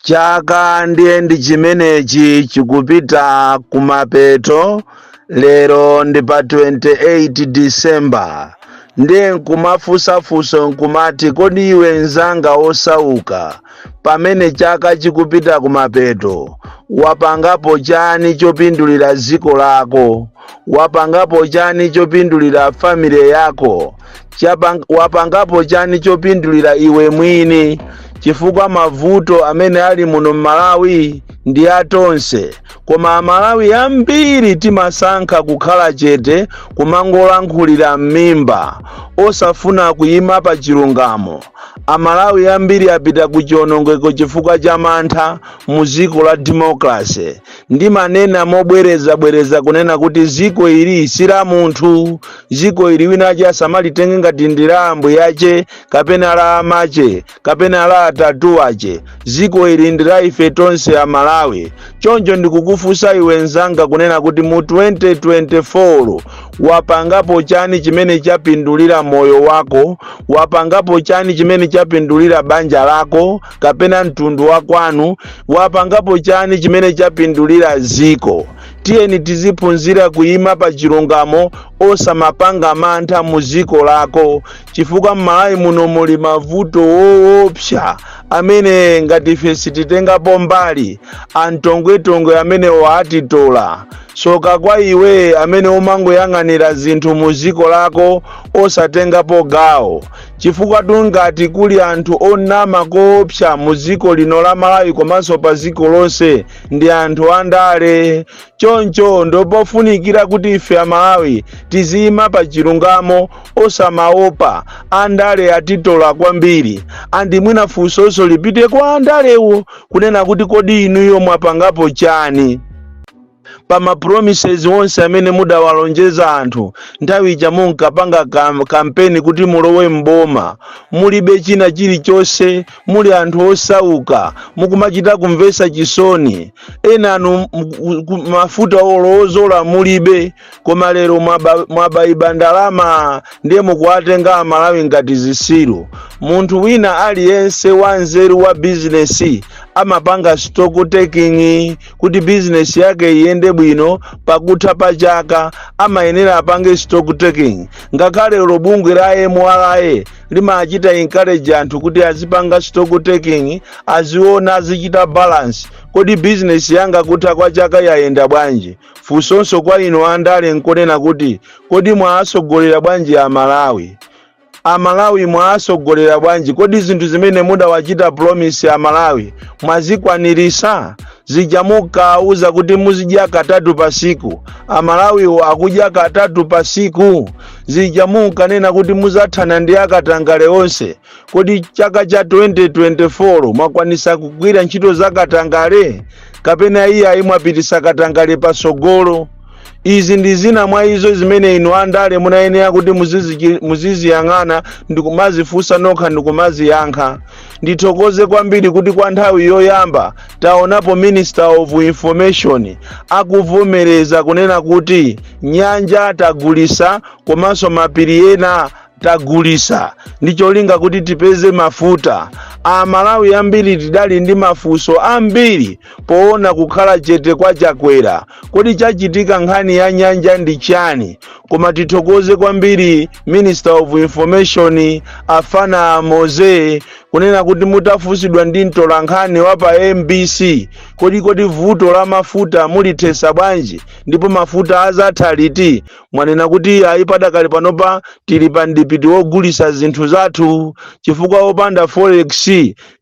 chaka ndiye ndi chimenechi chikupita kumapeto lero ndi pa 28 disemba ndiye nkumafunsafunso nkumati kodi iwe mzanga wosauka pamene chaka chikupita kumapeto wapangapo chani chopindulira dziko lako wapangapo chani chopindulira family yako wapangapo chani chopindulira iwe mwini chifukwa mavuto amene ali muno mmalawi ndi atonse koma amalawi ambiri timasankha kukhala chete kumangolankhulira m'mimba osafuna kuyima pa chilungamo amalawi ambiri apita ku chionongeko chifukwa cha mantha mu dziko la democracy ndimanena mobwerezabwereza kunena kuti ziko ili si la munthu ziko ili wina wache asamalitenge ngati ndi la ambuye ache kapena la amache kapena la atate ache ziko ili ndi la ife tonse amalawi choncho ndikukufunsa iwe mzanga kunena kuti mu 2024 wapangapo chani chimene chapindulira moyo wako wapangapo chani chimene chapindulira banja lako kapena mtundu wa kwanu wapangapo chani chimene chapindulira dziko tiyeni tiziphunzira kuyima pa chilungamo osamapanga mantha mu dziko lako chifukwa m'malawi muno muli mavuto woopsa amene ngati ife sititengapo mbali amtongwetongwe amene waatitola soka kwa iwe amene umangoyang'anira zinthu mu dziko lako osatengapo gawo Chifukwatu ngati kuli anthu onama koopsa mu dziko lino la Malawi komanso pa dziko lonse ndi anthu andale. Choncho ndopofunikira kuti ife a Malawi tiziyima pa chilungamo osamaopa andale atitola kwambiri. And mwina funsonso lipite kwa andalewo kunena kuti kodi inuyo mwapangapo chani? pa ma promises onse amene mudawalonjeza anthu nthawi ija munkapanga kam, kampeni kuti mulowe mboma mulibe china chilichonse muli anthu osauka mukumachita kumvesa chisoni enanu m- ku- mafuta olo odzola mulibe koma lero mwaba- mwaba, iba ndalama ndiye mukuwatenga amalawi ngati zisiru munthu wina aliyense wanzeru wa bizinesi amapanga stock taking kuti bizinesi yake iyende bwino pakutha pa chaka amayenera apange stock taking ngakhale olo bungwe la mra limachita encourage anthu kuti azipanga stock taking aziona azichita balance kodi bizinesi yanga kutha kwa chaka yayenda bwanji funsonso kwa inu andale nkonena kuti kodi mwaasogolera bwanji amalawi amalawi mwaasogolera bwanji kodi zinthu zimene mudawachita promise amalawi mwazikwanirisa zija mukauza kuti muzidya katatu pa siku amalawiwo akudya katatu pa siku zija munkanena kuti muzathana ndi akatangale onse kodi chaka cha 2024 mwakwanisa kugwira ntchito za katangale kapena iyayi mwapitisa katangale pasogolo izi ndi zina mwa izo zimene inu andale munayenera kuti muzizichi- muziziyang'ana ndi kumazifunsa nokha ndi kumaziyankha ndithokoze kwambiri kuti kwa nthawi yoyamba taonapo minister of information akuvomereza kunena kuti nyanja tagulisa komanso mapiri ena tagulisa ndi cholinga kuti tipeze mafuta amalawi ambiri tidali ndi mafunso ambiri poona kukhala chete kwa chakwera kodi chachitika nkhani ya nyanja ndi chani koma tithokoze kwambiri minister of information afana mose kunena kuti mutafunsidwa ndi mtolankhani wa pa mbc kodi kodi vuto la mafuta mulithesa bwanji ndipo mafuta azatha liti mwanena kuti ayi padakali panopa tili pa mpiringupiringu wogulisa zinthu zathu chifukwa opanda forex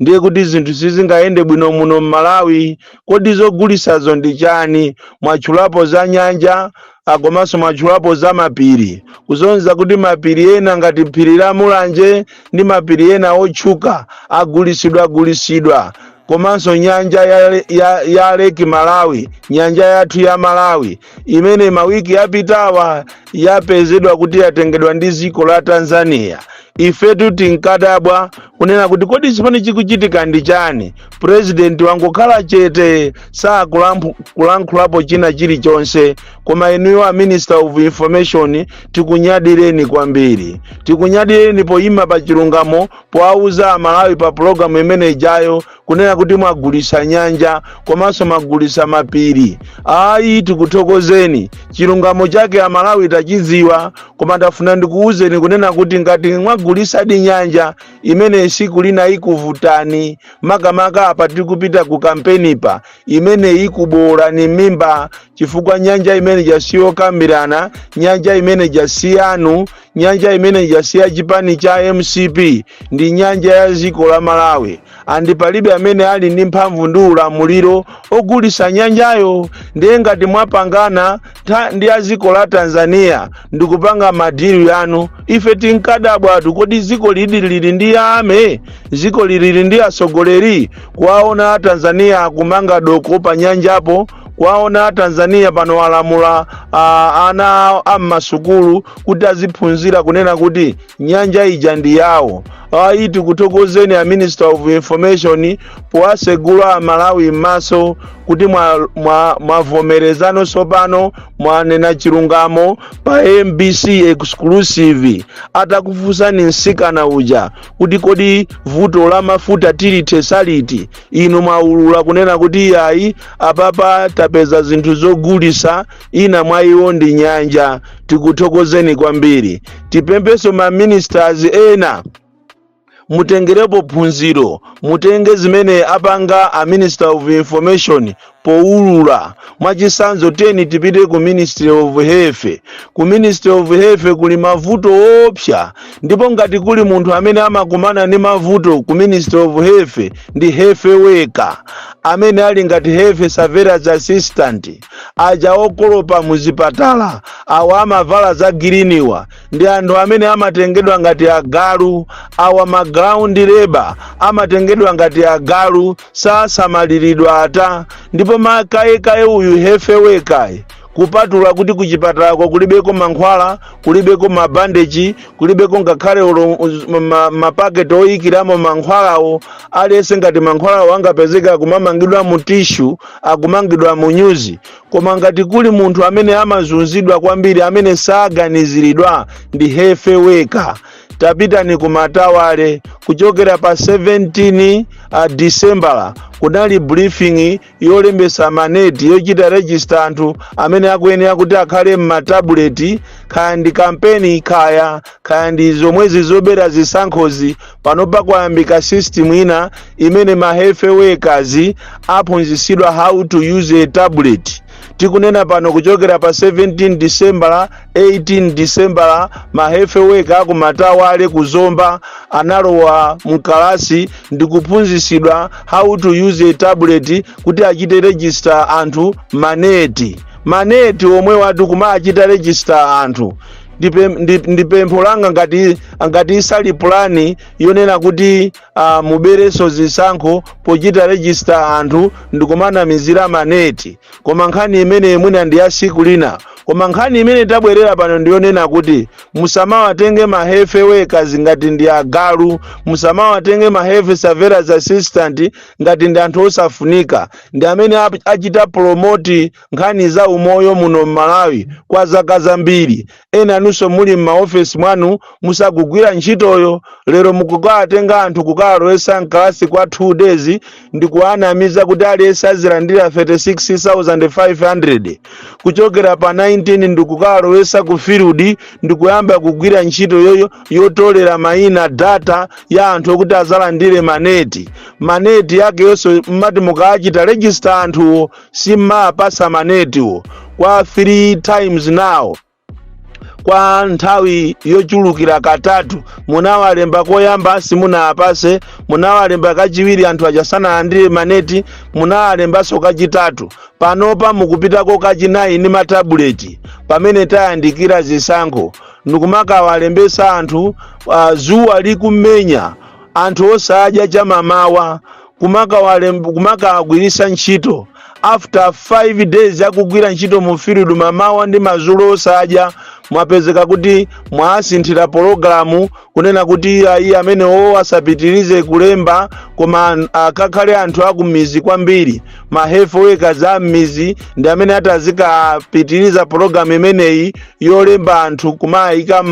ndiye kuti zinthu sizingayende bwino muno m'malawi kodi zogulisazo ndi chani mwatchulapo za nyanja ah, komanso mwatchulapo za mapiri kuzonza kuti mapiri ena ngati phiri la mulanje ndi mapiri ena otchuka agulisidwa agulisidwa komanso nyanja ya, ya, ya leki malawi nyanja yathu ya malawi imene mawiki yapitawa yapezedwa kuti yatengedwa ndi dziko la tanzania ifetu tinkadabwa kunena kuti kodi chimene chikuchitika ndi chani purezidenti wangokhala chete sakulankhulapo china chilichonse koma inuyo a minister of information tikunyadireni kwambiri tikunyadireni poyima pa chilungamo powauza amalawi pa pulogalamu imene ijayo kunena kuti mwagulisa nyanja komanso mwagulisa mapiri ayi tikuthokozeni chilungamo chake amalawi tachidziwa koma ndafuna ndikuwuzeni kunena kuti ngati mwagulisadi nyanja imene ija siku lina ikuvutani makamaka apa tikupita ku kampenipa imene ikuboolani m'mimba chifukwa nyanja imene ija siyokambirana nyanja imene ija siyanu nyanja imene ija si ya chipani cha mcp ndi nyanja ya dziko la malawi andi palibe amene ali ndi mphamvu ndi ulamuliro ogulisa nyanjayo ndiye ngati mwapangana tha- ndi a dziko la tanzania ndikupanga madilu yanu ife tinkadabwatu kodi dziko lidi lili ndi army dziko lili ndi atsogoleri kuwaona a tanzania akumanga doko pa nyanjapo kwaona tanzania pano alamula ah, ana a mmasukulu kuti aziphunzira kunena kuti nyanja ija ndi yawo ayi tikuthokozeni a minister of information powatsegula amalawi m'maso kuti mwavomerezano tsopano mwanena chilungamo pa mbc exclusive atakufunsani msikana uja kuti kodi vuto la mafuta tilithe saliti inu mwaulula kunena kuti iyayi apapa tapeza zinthu zogulitsa ina mwa izo ndi nyanja tikuthokozeni kwambiri tipemphenso ma ministers ena mutengerepo phunziro mutenge zimene apanga a minister of information powulula mwachitsanzo tiyeni tipite ku ministry of health ku ministry of health kuli mavuto oopsa ndipo ngati kuli munthu amene amakumana ndi mavuto ku ministry of health ndi health worker amene ali ngati health surveillance assistant aja okolopa muzipatala awa amavala za giriniwa ndi anthu amene amatengedwa ngati agalu awa ma ground labor amatengedwa ngati agalu sasamaliridwa ata ndipo makayekaye uyu health worker-ye kupatula kuti kuchipatalako kulibeko mankhwala kulibeko mabandeji kulibeko ngakhale olo- uz- ma- mapaketi oyikiramo mankhwalawo aliyense ngati mankhwalawo angapezeka akumangidwa mu tishu akumangidwa mu nyuzi koma ngati kuli munthu amene amazunzidwa kwambiri amene saganiziridwa ndi health worker tapitani ku matawale kuchokera pa 17 disembala kunali briefing yolembesa maneti yochita register anthu amene akuyenera kuti akhale m'matabuleti kaya ndi kampeni kaya kaya ndi zomwezi zobera zisankhozi panopa kwayambika system ina imene ma health workers aphunzitsidwa how to use a tablet tikunena pano kuchokera pa 17 disembala 18 disembala ma health worker a ku matawale ku zomba analowa mkalasi ndi kuphunzitsidwa how to use a tablet kuti achite register anthu maneti maneti omwewa ati kumachita register anthu ndipe- ndi- ndi pempho langa ngati ngati isali pulani yonena kuti uh, muberenso zisankho pochita register anthu ndikumanamizira maneti Koma nkhani imeneyi mwina ndi ya tsiku lina. Koma nkhani imene tabwerera pano ndi yonena kuti musamawatenge ma health workers ngati ndi agalu, musamawatenge ma health surveillance assistant ngati ndi anthu osafunika, ndi amene ap- achita promote nkhani za umoyo muno m'Malawi kwa zaka zambiri. enanunso amene muli m'maofesi mwanu musakugwira ntchitoyo lero mukukawatenga anthu kukawalowesa mkalasi kwa 2 days ndi kuwanamiza kuti aliyense azilandira 36500 kuchokera pa 19 ndi kukawalowesa ku field ndi kuyamba kugwira ntchito yoyo yotolera mayina data ya anthu okuti azalandire maneti maneti yake yonse mmati mukawachita register anthuwo simmawapasa manetiwo kwa 3 times now kwa nthawi yochulukira katatu munawalemba koyamba simunawapase munawalemba kachiwiri anthu aja sanalandire maneti munawalembanso kachitatu panopa mukupitako kachinayi ndi matabuleti pamene tayandikira zisankho ndikumakawalembesa anthu zuwa likumenya anthu osadya chamamawa kumakawagwiritsa ntchito after 5 days akugwira ntchito mu field mamawa ndi madzulo osadya mwapezeka kuti mwawasinthira pologalamu kunena kuti ayi amenewo asapitirize kulemba koma akakhale anthu akummizi kwambiri ma health workers a mmizi ndi amene atazikapitiriza pologalamu imeneyi yolemba anthu kumawayika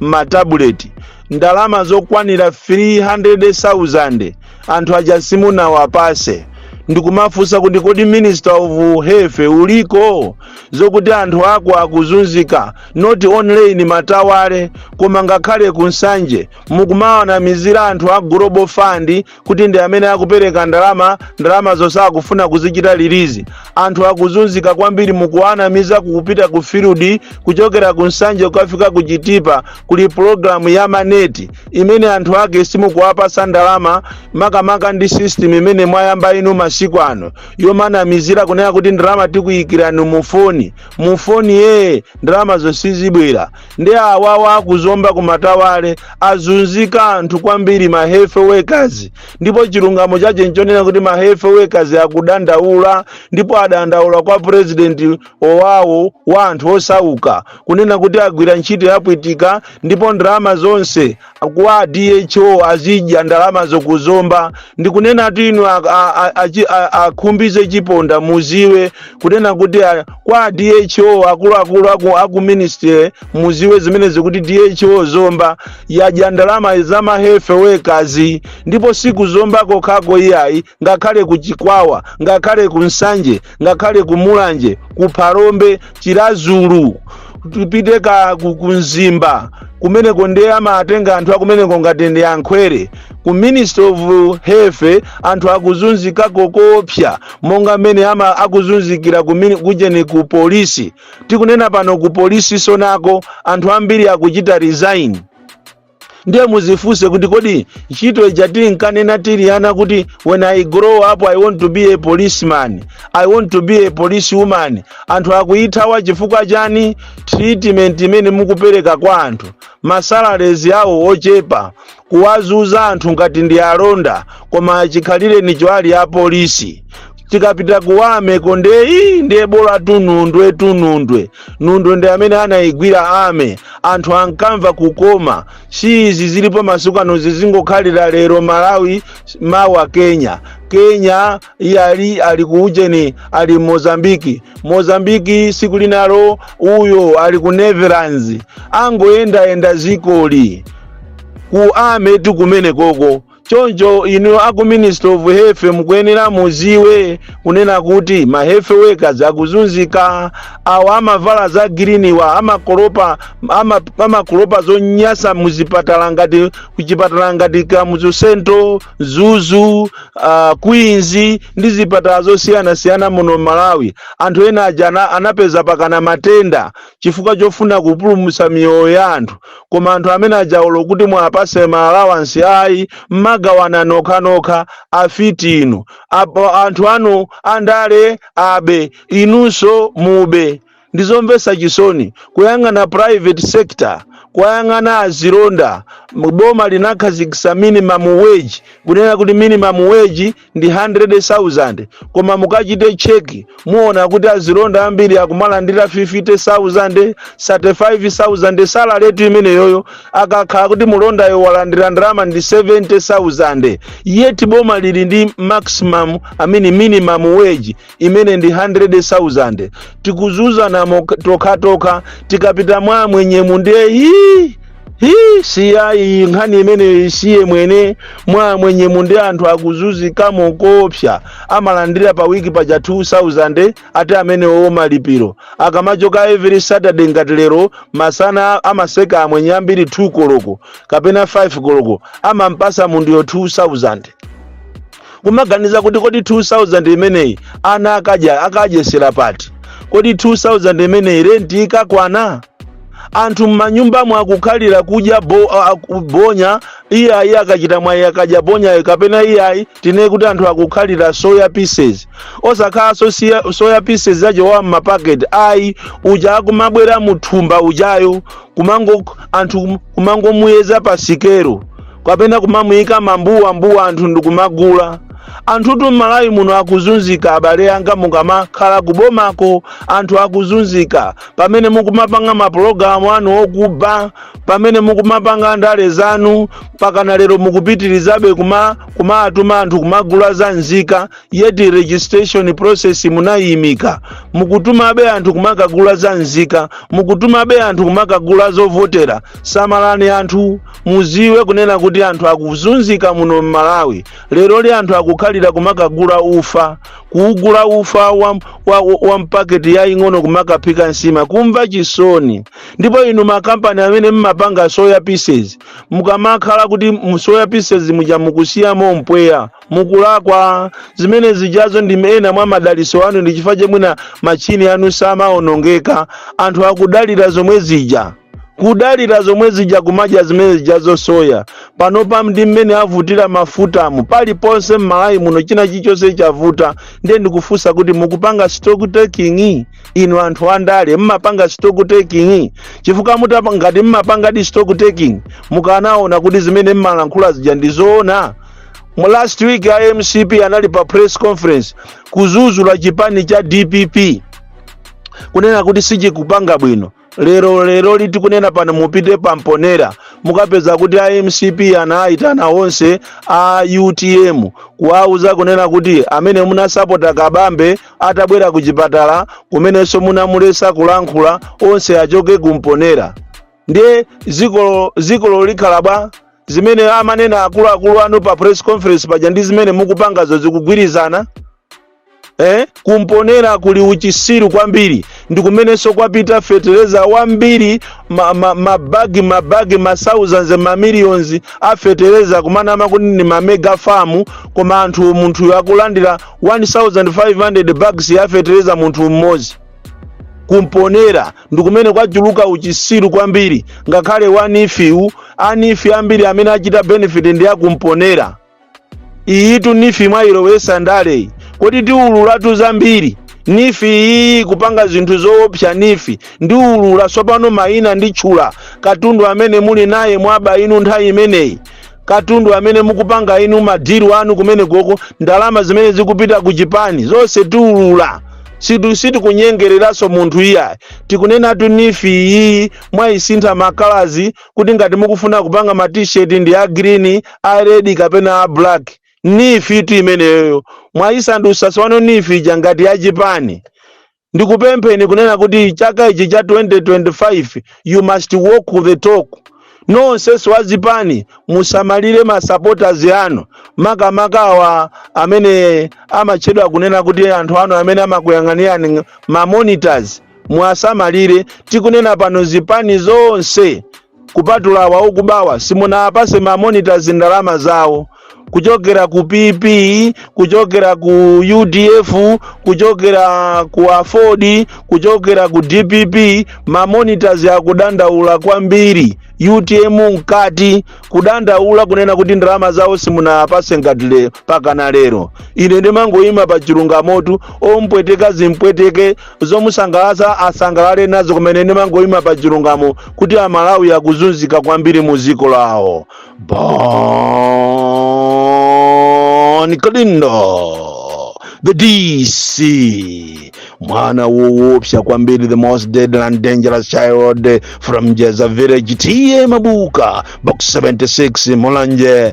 mmatabuleti ndalama zokwanira 300,000 anthu aja simunawapase ndikumufunsa kuti kodi minister of health uliko zokuti anthu ako akuzunzika not only in matawale koma ngakhale ku nsanje mukumawanamizira anthu a global fund kuti ndi amene akupereka ndalama ndalama zosakufuna kuzichita release anthu akuzunzika kwambiri mukuwanamiza kupita ku field kuchokera ku nsanje kukafika ku chitipa kuli programu ya maneti imene anthu ake simukuwapasa ndalama makamaka ndi system imene mwayamba inu masiku ano yomanamizira kunena kuti ndalama tikuyikirani mufoni mufonimo ndalama zo sizibwera ndi awawa akuzomba kumatawale azunzika anthu kwambiri ma health workers ndipo chilungamo chache nchonena kuti ma health workers akudandaula ndipo adandaula kwa president owawo wa anthu osauka kunena kuti agwira ntchito yapwitika ndipo ndalama zonse kwa dho azidya ndalamazo kuzomba ndikunena kuti inu akhumbize chiponda muziwe kunena kuti kwa dho akuluakulu aku ministry muziwe zimenezi kuti dho zomba yadya ndalama za ma health workers ndipo siku zomba kokhako iyayi ngakhale ku chikwawa ngakhale ku nsanje ngakhale ku mulanje ku phalombe Chiradzulu tupite ka ku, ku mzimba kumeneko ndiye amatenga anthu akumeneko ngati ndi ankhwere ku Minister of Health anthu akuzunzikako koopsa monga mmene ama akuzunzikira ku mini- kujeni ku polisi tikunena pano ku polisi tsonako anthu ambiri akuchita resign ndiye muzifunse kuti kodi ntchito ija tinkanena tili ana kuti when i grow up i want to be a policeman i want to be a police woman anthu akuyithawa chifukwa chani treatment imene mukupereka kwa anthu ma salaries awo ochepa kuwazunza anthu ngati ndi alonda koma chikhalirenicho ali apolisi tikapita ku army ko ndiye ndiye bola tu Nundwe tu Nundwe Nundwe ndi amene anayigwira army anthu ankamva kukoma si izi zilipo masiku ano zizingokhalira lero malawi mawa kenya kenya iye ali ku ujeni ali mozambiki mozambiki siku linalo uyo ali ku netherlands angoyendayenda ziliko ku army tikumene koko choncho inu aku minister of health mukuyenera mudziwe kunena kuti ma health workers akuzunzika awa amavala za green-wa amakolopa ama- amakolopa zonyasa muzipatala ngati kuchipatala ngati kamuzu central Mzuzu uh, queens ndi zipatala zosiyanasiyana muno malawi anthu ena aja ana- anapeza pakana matenda chifukwa chofuna kupulumutsa miyoyo ya anthu koma anthu amene aja olo kuti muwapatse ma allowance ayi mmagawana nokhanokha afiti inu apo anthu anu andale abe inunso mube ndizomvetsa chisoni kuyang'ana private sector kuyang'ana azilonda boma linakhazikitsa minimum wage kunena kuti minimum wage ndi 100,000 koma mukachite check muona kuti azilonda ambiri akumalandira 50,000 35,000 salary tu imeneyoyo akakhala kuti mulondayo walandira ndalama ndi 70,000 yet boma lili ndi maximum I mean minimum wage imene ndi 100,000 tikuzunzana mok- tokhatokha tikapita mwa amwenyemu ndiye hii hii siyani nkhani imeneyi tisiye mwene mwa amwenyemu ndi anthu akuzunzikamo koopsa amalandira pa wiki paja 2000 ati amenewo malipiro akamachoka every saturday ngati lero masana amatseka amwenye ambiri 2 koloko kapena 5 koloko amampatsa munthuyo 2000 kumaganiza kuti kodi 2000 imeneyi ana akadya akadyesera pati kodi 2000 imeneyi renti ikakwana anthu m'manyumbamo akukhalira kudya bo, a- a- bonya iyayi akachita mwayi akadya bonyayo kapena iyayi tinene kuti anthu akukhalira soya pieces osakhalanso soya, soya pieces ajawa a m'mapaketi ayi uja akumabwera muthumba ujayo kumango anthu kumangomuyeza pa sikero kapena kumamuyika mambuwa mbuwa anthu ndikumagula anthutu m'malawi muno akuzunzika abale anga mukamakhala kubomako anthu akuzunzika pamene mukumapanga mapulogalamu anu okuba pamene mukumapanga ndale zanu mpakana lero mukupitirizabe kuma kumatuma anthu kumagula za nzika yet registration process munayiimika mukutumabe anthu kumakagula za nzika mukutumabe anthu kumakagula zovotera samalani anthu muziwe kunena kuti anthu akuzunzika muno m'malawi leroli anthu akukhalira kumakagula ufa kuugula ufa wa, wa, wa mpaketi yaying'ono kumakaphika nsima kumva chisoni ndipo inu makampani amene mmapanga soya pieces mukamakhala kuti mu soya pieces muja mukusiyamo mpweya mukulakwa zimene zijazo ndi ena mwa madaliso anu ndi chifukwa cha mwina machini anu samaonongeka anthu akudalira zomwe zija kudalira zomwe zija kumadya zimene zijazo soya panopa ndi mmene avutira mafutamu paliponse m'malawi muno china chichonse chavuta ndiye ndikufunsa kuti mukupanga stock taking inu anthu andale mmapanga stock taking chifukwa mutapa ngati mmapangadi stock taking mukanaona kuti zimene mmalankhula zija ndi zoona last week a mcp anali pa press conference kuzuzula chipani cha dpp kunena kuti sichikupanga bwino lero leroli tikunena pano mupite pamponera mukapeza kuti a mcp anaayitana onse a utm kuwauza kunena kuti amene munasapota kabambe atabwera ku chipatala kumeneko munamulesa kulankhula onse achoke kumponera ndiye zikolo zikolo likhala bwanji zimene amanena akuluakulu anu pa press conference paja ndi zimene mukupangazo zikugwirizana eh? kumponera kuli uchisiru kwambiri ndi kumenenso kwapita fetereza wambiri mabagi ma, ma mabagi mabagi ma thousands ma millions a fetereza kumanama kuti ndi ma mega farm koma anthu munthuyo akulandira 1500 bags ya fetereza munthu mmodzi kumponera ndi kumene kwachuluka uchisiru kwambiri ngakhale wa NEEF-wu a NEEF ambiri amene achita benefit ndi akumponera iyitu nifi mwayilowetsa ndale iyi kodi tiwululatu zambiri nifi iyi kupanga zinthu zoopsa nifi ndiwulula tsopano mayina nditchula katundu amene muli naye mwaba inu nthawi imeneyi katundu amene mukupanga inu madiru anu kumene koko ndalama zimene zikupita ku chipani zonse tiwulula sitikunyengereranso munthu iyayi tikunenatu nifi iyi mwayisintha makalazi kuti ngati mukufuna kupanga ma t-shirt ndi a green a red kapena a black nifitu imeneyoyo mwayisandutsa tsopano nifi ija ngati ya chipani ndikupempheni kunena kuti chaka ichi cha 2025 you must walk the talk nonsenu a zipani musamalire masupporters anu makamaka awa amene amatchedwa kunena kuti anthu anu amene amakuyang'anirani ma monitors muwasamalire tikunena pano zipani zonse kupatula awa okubawa simunawapatse mamonitors ndalama zawo kuchokera ku pp kuchokera ku udf kuchokera ku aford kuchokera ku dpp mamonitors akudandaula kwambiri utm mkati kudandaula kunena kuti ndalama zawo simunawapatse ngati le mpakana lero ine ndimangoyima pa chilungamotu ompweteka zimpweteke zomusangalatsa asangalale nazo kumene ndimangoyima pa chilungamo kuti amalawi akuzunzika kwambiri mu dziko lawo bon kalindo the dc mwana woopsa kwambiri the most deadly and dangerous child from jeza village ta mabuka box 76 mulanje